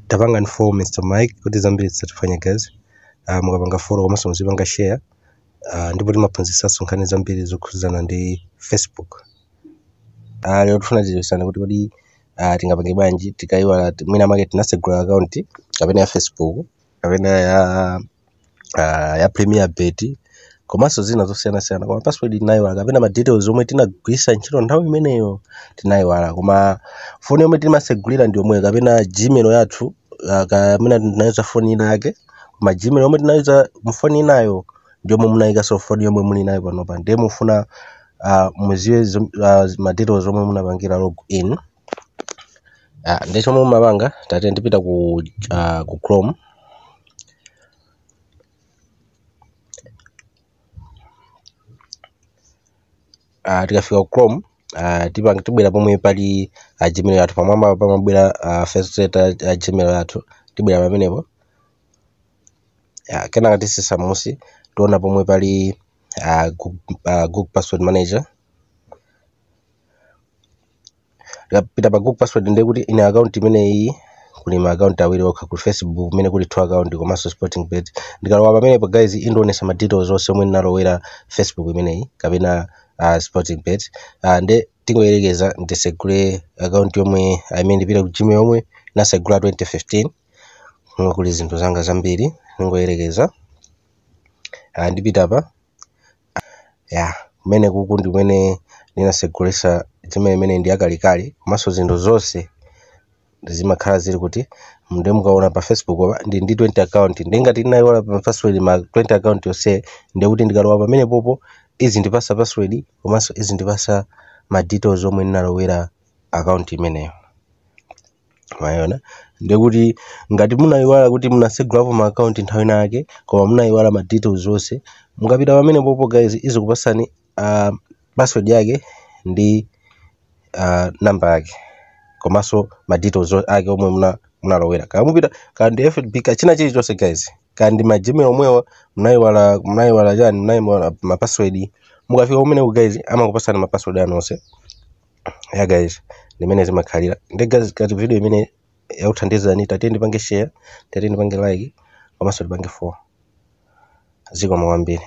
tapangani follow mr mike kuti zambiri zisatiphwanya guys uh, mukapanga follow komanso muzipanga share uh, ndipo timaphunzitsanso nkhani zambiri zokhudzana ndi facebook uh, lero tifuna tidziwitsane kuti kodi uh, tingapange bwanji tikaiwala ti- mwina make tinasegula akaunti kapena ya facebook kapena ya premier bet komanso zina zosiyanasiyana koma password tinayiwala kapena ma details omwe tinagwiritsa ntchito nthawi imeneyo tinayiwala koma foni yomwe timasegulira ndi yomweyo kapena gmail yathu ah, kapena tinayuza foni ina yake koma gmail yomwe tinayuza mfoni inayo ndi yomwe munayikanso mfoni yomwe muli nayo panopa ndiye mufuna ah, mudziwe zom- ah, ma details omwe munapangira log in Ah, ndiye chomwe mumapanga tatiyeni tipita ku uh, ku chrome uh, tikafika ku chrome uh, tipanga tibwera pomwe pali uh, gmail yathu pamwamba pamabwera uh, first letter uh, gmail yathu tibwera pamenepo uh, kenaka titsitsa munsi tiona pomwe pali uh, google, uh, google password manager tikapita pa google password ndiye kuti ine account imeneyi kuli ma account awiri okha kuli facebook imene kuli two account komanso sporting bet ndikalowa pamenepo guys indionetsa ma details onse omwe ndinalowera facebook imeneyi kapena uh, sporting bet uh, nde tingoyerekeza ndisegule account yomwe i mean ndipita ku gmail yomwe ndinasegula 2015 kuli zinthu zanga zambiri ndingoyerekeza uh, ndipita pa ya kumene kuku ndi kumene ndinasegulitsa gmail imene ndi yakalekale komanso zinthu zonse zimakhala zili uku ndiye mukaona pa facebook apa ndili ndi 20 account ndiye ngati ndinayiwala pa password ma 20 account yonse ndiye kuti ndikalowa pamenepopo izindipatsa password komanso izindipatsa ma details omwe ndinalowera account imeneyo mwayiona ndekuti ngati munayiwala kuti munasegulapo ma account nthawi ina yake koma munayiwala ma details onse mukapita pamenepopo guys izikupatsani uh, password yake ndi uh, number yake komanso ma details o- ake omwe muna munalowera kaya mupita kaya ndi fb kaya china chilichonse guys kaya ndi ma gmail omwewa munayiwala munayiwala chani munayiwala ma password mukafika kumeneku guys amakupatsani ma password anu onse ya guys ndi mmene zimakhalira ndiye guys ngati video imene yakuthandizani tatiyeni tipange share tatiyeni tipange like komanso tipange follow zikomo kwambiri